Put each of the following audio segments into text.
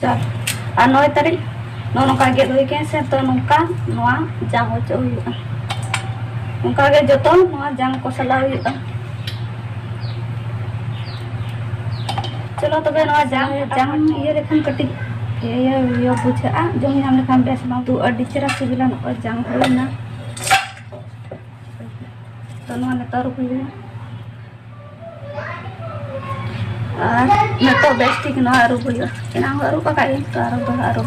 ᱪᱟᱨ ᱟᱨ ᱱᱚᱭ ᱛᱟᱹᱨᱤᱠᱷ ᱱᱚᱜᱼᱚ ᱱᱚᱝᱠᱟ ᱜᱮᱫ ᱦᱩᱭ ᱠᱟᱱᱟ ᱥᱮ ᱛᱚ ᱱᱚᱝᱠᱟ ᱱᱚᱣᱟ ᱡᱟᱝ ᱚᱪᱚᱜ ᱦᱩᱭᱩᱜᱼᱟ ᱚᱱᱠᱟᱜᱮ ᱡᱚᱛᱚ ᱱᱚᱣᱟ ᱡᱟᱝ ᱠᱚ ᱥᱟᱞᱟᱣ ᱦᱩᱭᱩᱜᱼᱟ ᱪᱚᱞᱚ ᱛᱚᱵᱮ ᱱᱚᱣᱟ ᱡᱟᱝ ᱡᱟᱝ ᱤᱭᱟᱹ ᱞᱮᱠᱷᱟᱱ ᱠᱟᱹᱴᱤᱡ ᱤᱭᱟᱹ ᱤᱭᱟᱹ ᱵᱩᱡᱷᱟᱹᱜᱼᱟ ᱡᱚᱢ ᱧᱟᱢ ᱞᱮᱠᱷᱟᱱ ᱵᱮᱥ ᱵᱟᱝ ᱛᱩ ᱟᱹᱰᱤ ᱪᱮᱦᱨᱟ ᱥᱤᱵᱤᱞᱟ ᱱᱚᱜᱼᱚᱭ ᱡᱟᱝ ᱦᱩᱭᱱᱟ ᱛᱚ ᱱᱚᱣᱟ ᱱᱮᱛᱟᱨ ᱦᱩᱭᱱᱟ ᱟᱨ ᱱᱤᱛᱚᱜ ᱵᱮᱥ ᱴᱷᱤᱠ ᱱᱚᱣᱟ ᱟᱹᱨᱩᱵ ᱦᱩᱭᱩᱜᱼᱟ ᱮᱱᱟᱝ ᱦᱚᱸ ᱟᱹᱨᱩᱵ ᱟᱠᱟᱫ ᱜᱤᱧ ᱛᱚ ᱟᱨᱚ ᱫᱚᱦᱲᱟ ᱟᱹᱨᱩᱵ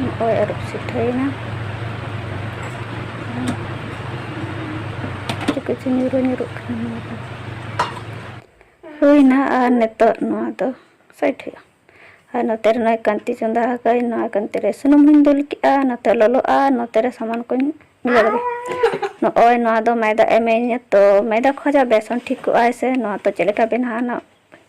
ᱱᱚᱜᱼᱚᱭ ᱟᱹᱨᱩᱵ ᱥᱤᱴᱷᱟᱹᱭᱮᱱᱟ ᱠᱤᱪᱷᱩ ᱧᱩᱨᱩ ᱧᱩᱨᱩᱜ ᱠᱟᱱᱟ ᱱᱚᱣᱟ ᱫᱚ ᱦᱩᱭᱱᱟ ᱟᱨ ᱱᱤᱛᱚᱜ ᱱᱚᱣᱟ ᱫᱚ ᱥᱟᱭᱤᱰ ᱦᱩᱭᱩᱜᱼᱟ ᱟᱨ ᱱᱚᱛᱮ ᱨᱮ ᱱᱚᱜᱼᱚᱭ ᱠᱟᱱᱛᱤ ᱪᱚᱸᱫᱟ ᱟᱠᱟᱫᱟᱹᱧ ᱱᱚᱣᱟ ᱠᱟᱱᱛᱤ ᱨᱮ ᱥᱩᱱᱩᱢ ᱦᱚᱧ ᱫᱩᱞ ᱠᱮᱜᱼᱟ ᱱᱚᱛᱮ ᱞᱚᱞᱚᱜᱼᱟ ᱱᱚᱛᱮ ᱨᱮ ᱥᱟᱢᱟᱱ ᱠᱚᱧ ᱢᱤᱞᱟᱹᱣ ᱞᱮᱜᱮ ᱱᱚᱜᱼᱚᱭ ᱱᱚᱣᱟ ᱫᱚ ᱢᱟᱭᱫᱟ ᱮᱢᱟᱹᱧ ᱛᱚ ᱢᱟᱭᱫᱟ ᱠᱷᱚᱡᱟᱜ ᱵᱮᱥᱚᱱ ᱴᱷᱤᱠᱚᱜᱼᱟᱭ ᱥᱮ ᱱᱚᱣᱟ ᱫᱚ ᱪᱮᱫ ᱞᱮᱠᱟ ᱵᱮᱱᱟᱜᱼᱟ ᱱᱟᱜ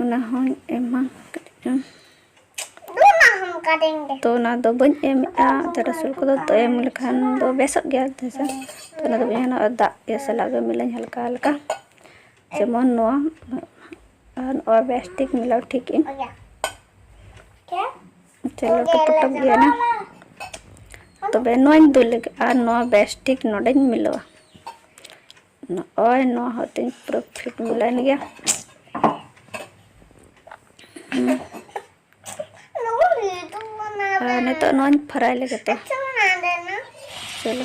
ᱚᱱᱟ ᱦᱚᱸᱧ ᱮᱢᱟ ᱠᱟᱹᱴᱤᱡ ᱪᱩᱝ ᱛᱚ ᱚᱱᱟ ᱫᱚ ᱵᱟᱹᱧ ᱮᱢᱮᱫᱼᱟ ᱛᱚ ᱨᱟᱹᱥᱩᱱ ᱠᱚᱫᱚ ᱛᱚ ᱮᱢ ᱞᱮᱠᱷᱟᱱ ᱫᱚ ᱵᱮᱥᱚᱜ ᱜᱮᱭᱟ ᱦᱮᱸᱥᱮ ᱛᱚ ᱚᱱᱟ ᱫᱚ ᱵᱟᱹᱧ ᱮᱢᱟ ᱟᱨ ᱫᱟᱜ ᱤᱭᱟᱹ ᱥᱟᱞᱟᱜ ᱜᱮ ᱢᱤᱞᱟᱹᱧ ᱦᱟᱞᱠᱟ ᱦᱟᱞᱠᱟ ᱡᱮᱢᱚᱱ ᱱᱚᱣᱟ ᱟᱨ ᱱᱚᱣᱟ ᱵᱮᱥ ᱴᱷᱤᱠ ᱢᱤᱞᱟᱹᱣ ᱴᱷᱤᱠ ᱤᱧ ᱪᱚᱞᱚ ᱴᱚᱯᱚᱴᱚᱯ ᱜᱮᱭᱟ ᱱᱟ ᱛᱚᱵᱮ ᱱᱚᱣᱟᱧ ᱫᱩᱞ ᱞᱟᱹᱜᱤᱫ ᱟᱨ ᱱᱚᱣᱟ ᱵᱮᱥ ᱴᱷᱤᱠ ᱱᱚᱰᱮᱧ ᱢᱤᱞᱟᱹᱣᱟ ᱱᱚᱜᱼᱚᱭ ᱱᱚᱣᱟ ᱦᱚᱸ ᱛᱤᱧ ᱯᱩᱨᱟᱹ ᱯᱷᱤᱴ ᱢᱤᱞᱟᱹᱭᱮᱱ ᱜᱮᱭᱟ ᱟᱨ ᱱᱤᱛᱚᱜ ᱱᱚᱣᱟᱧ ᱯᱷᱨᱟᱭ ᱞᱮᱜᱮ ᱛᱚ ᱪᱚᱞᱚ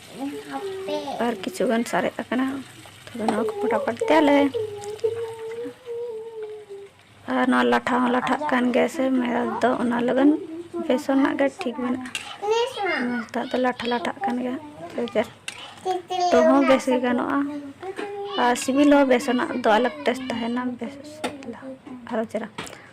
ᱟᱨ ᱠᱤᱪᱷᱩ ᱜᱟᱱ ᱥᱟᱨᱮᱡ ᱟᱠᱟᱱᱟ ᱛᱚᱵᱮ ᱱᱚᱣᱟ ᱠᱚ ᱯᱷᱚᱴᱟᱯᱷᱚᱴ ᱛᱮᱭᱟᱞᱮ ᱟᱨ ᱱᱚᱣᱟ ᱞᱟᱴᱷᱟ ᱦᱚᱸ ᱞᱟᱴᱷᱟᱜ ᱠᱟᱱ ᱜᱮᱭᱟ ᱥᱮ ᱢᱮᱨᱟ ᱫᱚ ᱚᱱᱟ ᱞᱟᱹᱜᱤᱫ ᱵᱮᱥᱚᱱ ᱨᱮᱱᱟᱜ ᱜᱮ ᱴᱷᱤᱠ ᱢᱮᱱᱟᱜᱼᱟ ᱱᱮᱛᱟᱨ ᱫᱚ ᱞᱟᱴᱷᱟ ᱞᱟᱴᱷᱟᱜ ᱠᱟᱱ ᱜᱮᱭᱟ ᱥᱮ ᱛᱚ ᱦᱚᱸ ᱵᱮᱥ ᱜᱮ ᱜᱟᱱᱚᱜᱼᱟ ᱟᱨ ᱥᱤᱵᱤᱞ ᱦᱚᱸ ᱵᱮᱥᱚᱱᱟᱜ ᱫᱚ ᱟᱞᱟᱜᱽ ᱴᱮᱥᱴ ᱛᱟᱦᱮᱱᱟ ᱵᱮᱥ ᱟᱨᱚ ᱪᱮᱦᱨᱟ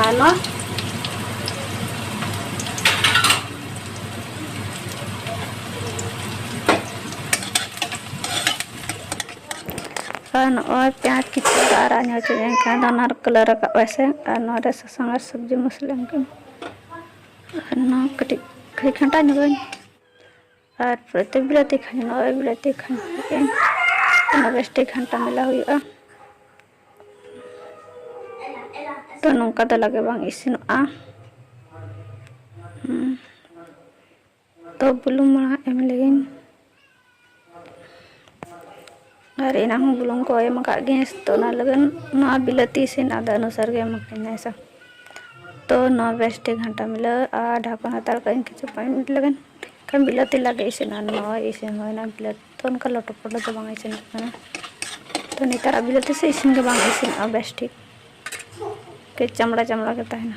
ᱟᱨ ᱱᱚᱣᱟ ᱟᱨ ᱱᱚᱜᱼᱚᱭ ᱯᱮᱸᱭᱟᱡᱽ ᱠᱤᱪᱷᱩ ᱟᱨᱟᱜ ᱧᱚᱜ ᱦᱚᱪᱚ ᱮᱱᱠᱷᱟᱱ ᱫᱚ ᱚᱱᱟ ᱠᱟᱞᱟᱨ ᱨᱟᱠᱟᱵ ᱟᱥᱮ ᱟᱨ ᱱᱚᱣᱟ ᱨᱮ ᱥᱟᱥᱟᱝ ᱟᱨ ᱥᱚᱵᱽᱡᱤ ᱢᱚᱥᱞᱟ ᱮᱢ ᱠᱟᱹᱫᱟᱹᱧ ᱟᱨ ᱱᱚᱣᱟ ᱠᱟᱹᱴᱤᱡ ᱠᱷᱟᱹᱞᱤ ᱠᱷᱟᱱᱴᱟ ᱧᱚᱜᱟᱹᱧ ᱟᱨ ᱯᱨᱚᱛᱮᱠ ᱵᱮᱲᱟ ᱛᱮᱠᱷᱟᱱ ᱱᱚᱜᱼᱚᱭ ᱵᱮᱲᱟ ᱛᱮᱠᱷᱟᱱ ᱚᱱᱟ ᱵᱮᱥᱴᱮ ᱜᱷᱟᱱᱴᱟ ᱢᱮᱞᱟ ᱦᱩᱭᱩᱜᱼᱟ ᱛᱚ ᱱᱚᱝᱠᱟ ᱫᱚ ᱞᱟᱜᱮ ᱵᱟᱝ ᱤᱥᱤᱱᱚᱜᱼᱟ ᱛᱚ ᱵᱩᱞᱩᱝ ᱢᱟᱲᱟᱝ ᱮᱢ ᱞᱮᱜᱤᱧ ᱟᱨ ᱮᱱᱟᱝ ᱦᱚᱸ ᱵᱩᱞᱩᱝ ᱠᱚ ᱮᱢ ᱟᱠᱟᱫ ᱜᱮ ᱛᱚ ᱚᱱᱟ ᱞᱟᱹᱜᱤᱫ ᱱᱚᱣᱟ ᱵᱤᱞᱟᱹᱛᱤ ᱤᱥᱤᱱ ᱟᱫᱚ ᱚᱱᱩᱥᱟᱨ ᱜᱮ ᱮᱢ ᱟᱠᱟᱫᱟᱹᱧ ᱦᱮᱸ ᱥᱮ ᱛᱚ ᱱᱚᱣᱟ ᱵᱮᱥ ᱴᱷᱤᱠ ᱜᱷᱟᱱᱴᱟ ᱢᱤᱞᱟᱹ ᱟᱨ ᱰᱷᱟᱠᱚᱱ ᱦᱟᱛᱟᱲ ᱠᱟᱜ ᱟᱹᱧ ᱠᱤᱪᱷᱩ ᱯᱟᱸᱪ ᱢᱤᱱᱤᱴ ᱞᱟᱹᱜᱤᱫ ᱠᱷᱟᱱ ᱵᱤᱞᱟᱹᱛᱤ ᱞᱟᱜᱮ ᱤᱥᱤᱱᱟ ᱱᱚᱣᱟ ᱤᱥᱤᱱ ᱦᱩᱭᱱᱟ ᱵᱤᱞᱟᱹᱛᱤ ᱛᱚ ᱚᱱᱠᱟ ᱞᱚᱴᱚ ᱯᱚᱴᱚ ᱫᱚ ᱵᱟᱝ ᱤᱥᱤᱱᱚᱜ ᱠᱟᱱᱟ ᱛᱚ ᱱᱮᱛᱟᱨᱟᱜ ᱵᱤᱞᱟᱹᱛᱤ ᱥᱮ ᱤᱥᱤᱱ ᱜᱮ ᱵᱟᱝ ᱤᱥᱤᱱᱚᱜᱼᱟ ᱵᱮᱥ ᱴᱷᱤᱠ ᱠᱟᱹᱡ ᱪᱟᱢᱲᱟ ᱪᱟᱢᱲᱟ ᱜᱮ ᱛᱟᱦᱮᱱᱟ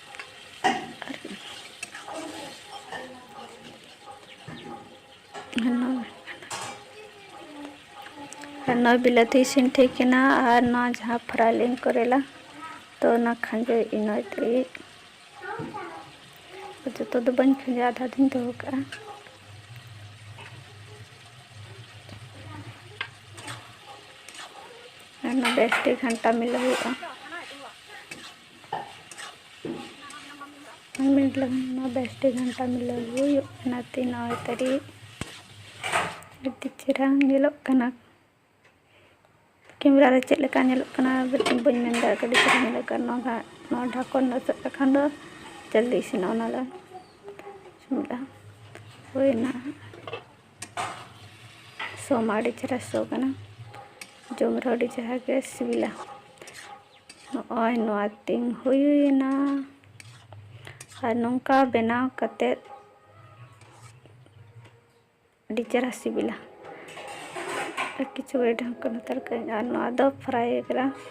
ᱱᱚᱣᱟ ᱵᱤᱞᱟᱹᱛᱤ ᱤᱥᱤᱱ ᱴᱷᱤᱠ ᱮᱱᱟ ᱟᱨ ᱱᱚᱣᱟ ᱡᱟᱦᱟᱸ ᱯᱷᱨᱟᱭ ᱞᱤᱧ ᱠᱚᱨᱮᱞᱟ ᱛᱚ ᱚᱱᱟ ᱠᱷᱟᱸᱡᱚ ᱤᱱᱟᱹ ᱛᱮᱜᱮ ᱡᱚᱛᱚ ᱫᱚ ᱵᱟᱹᱧ ᱠᱷᱟᱸᱡᱚ ᱟᱫᱷᱟ ᱫᱚᱧ ᱫᱚᱦᱚ ᱠᱟᱜᱼᱟ ᱟᱨ ᱱᱚᱣᱟ ᱵᱮᱥ ᱴᱷᱤᱠ ᱜᱷᱟᱱᱴᱟ ᱢᱤᱞᱟᱹᱣ ᱦᱩᱭᱩᱜᱼᱟ ᱯᱟᱸᱪ ᱢᱤᱱᱤᱴ ᱞᱟᱹᱜᱤᱫ ᱱᱚᱣᱟ ᱵᱮᱥᱴᱮ ᱜᱷᱟᱱᱴᱟ ᱢᱤᱞᱟᱹᱣ ᱦᱩᱭᱩᱜ ᱠᱟᱱᱟ ᱛᱤ ᱱᱚᱜᱼᱚᱭ ᱛᱟᱹᱨᱤ ᱟᱹᱰᱤ ᱪᱮᱦᱨᱟ ᱧᱮᱞᱚᱜ ᱠᱟᱱᱟ ᱠᱮᱢᱮᱨᱟ ᱨᱮ ᱪᱮᱫ ᱞᱮᱠᱟ ᱧᱮᱞᱚᱜ ᱠᱟᱱᱟ ᱵᱟᱹᱧ ᱢᱮᱱ ᱫᱟᱲᱮᱭᱟᱜ ᱠᱟᱱᱟ ᱟᱹᱰᱤ ᱪᱮᱦᱨᱟ ᱧᱮᱞᱚᱜ ᱠᱟᱱᱟ ᱱᱚᱣᱟ ᱱᱚᱣᱟ ᱰᱷᱟᱠᱚᱱ ᱚᱪᱚᱜ ᱞᱮᱠᱷᱟᱱ ᱫᱚ ᱡᱚᱞᱫᱤ ᱤᱥᱤᱱᱚᱜᱼᱟ ᱚᱱᱟ ᱫᱚ ᱪᱚᱸᱫᱟ ᱦᱩᱭᱱᱟ ᱥᱚ ᱢᱟ ᱟᱹᱰᱤ ᱪᱮᱦᱨᱟ ᱥᱚ ᱠᱟᱱᱟ ᱡᱚᱢ ᱨᱮᱦᱚᱸ ᱟᱹᱰᱤ ᱪᱮᱦᱨᱟ ᱜᱮ ᱥᱤᱵᱤᱞᱟ ᱱᱚᱜᱼᱚᱭ ᱱᱚᱣᱟ ᱛᱤᱧ ᱦᱩᱭᱮᱱᱟ ᱟᱨ ᱱᱚᱝᱠᱟ ᱵᱮᱱᱟᱣ ᱠᱟᱛᱮᱫ ᱟᱹᱰᱤ ᱪᱮᱦᱨᱟ ᱥᱤᱵᱤᱞᱟ ᱟᱨ ᱠᱤᱪᱷᱩ ᱜᱷᱟᱹᱲᱤᱡ ᱰᱷᱟᱠᱚᱱ ᱦᱟᱛᱟᱲ ᱠᱟᱜᱼᱟᱹᱧ ᱟᱨ ᱱᱚᱣᱟ ᱫᱚ ᱯᱷᱨᱟᱭ ᱟᱠᱟᱱᱟ